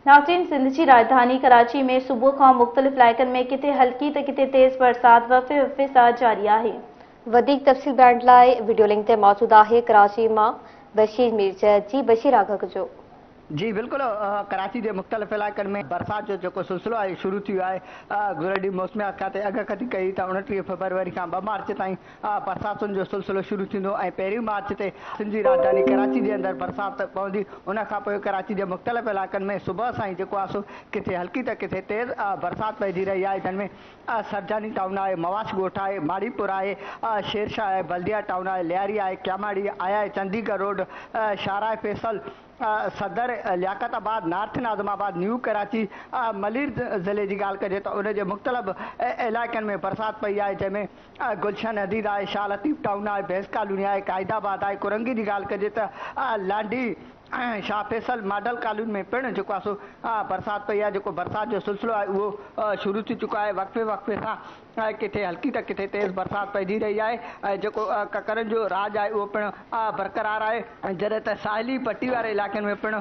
ناظرين سنڌ جي راڄڌاني ڪراچي ۾ صبح کان مختلف علائقن ۾ ڪٿي هلڪي ته ڪٿي تيز برسات وڦي وڦي سان جاري آهي. وڌيڪ تفصيل ڄاڻڻ لاء وڊيو لنڪ تي موجود آهي ڪراچي مان بشير مير جي جي بشير آگهه ڪجو. جي بلڪل ڪراچي جي مختلف علائقن ۾ برسات جو جيڪو سلسلو آهي شروع ٿي ويو آهي گذريل ڏينهن موسميات کاتي اڳڪٿي ڪئي هئي ته اوڻٽيهه فبروري کان ٻه مارچ تائين برساتن جو سلسلو شروع ٿيندو ۽ پهرين مارچ تي سنڌ جي راڄڌاني ڪراچي جي اندر برسات پوندي ان کان پوء ڪراچي جي مختلف علائقن ۾ صبح سان ئي جيڪو آهي سو ڪٿي هلڪي ته ڪٿي تيز برسات پئجي رهي آهي جن ۾ سرجاني ٽائون آهي مواش ڳوٺ آهي ماڙي پور آهي شيرشاهه آهي بلديا ٽائون آهي لياري آهي ڪياماڙي آهي چنديگڙ روڊ شاهراهه فيصل صدر لياقت آباد نارٿ ناظم آباد نيو ڪراچي ملير ضلعي جي ڳالهه ڪجي ته ان جي مختلف علائقن ۾ برسات پئي آهي جنهن ۾ آء گلشن حديد، آء شاهه لطيف ٽائون، آء بينس ڪالوني، آء قائد آباد، آء ڪورنگي جي ڳالهه ڪجي ته آء لانڍي ۽ شاهه فيصل ماڊل ڪالوني ۾ پڻ جيڪو آهي سو آء برسات پئي آهي جيڪو برسات جو سلسلو آهي اهو شروع ٿي چڪو آهي وقفي وقفي سان آء ڪٿي هلڪي ته ڪٿي تيز برسات پئجي رهي آهي ۽ جيڪو ڪڪرن جو راڄ آهي اهو پڻ آء برقرار آهي جڏهن ته ساحلي پٽي واري علائقن ۾ پڻ.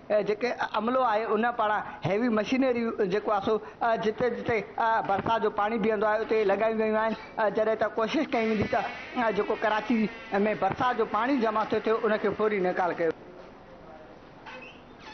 جيڪي عملو آهي ان پاڻ هيوي مشينري جيڪو آهي سو جتي جتي برسات جو پاڻي بيهندو آهي اتي لڳايون ويون آهن جڏهن ته ڪوشش ڪئي ويندي ته جيڪو ڪراچي ۾ برسات جو پاڻي جمع ٿيو ٿيو ان کي فوري نيڪال ڪيو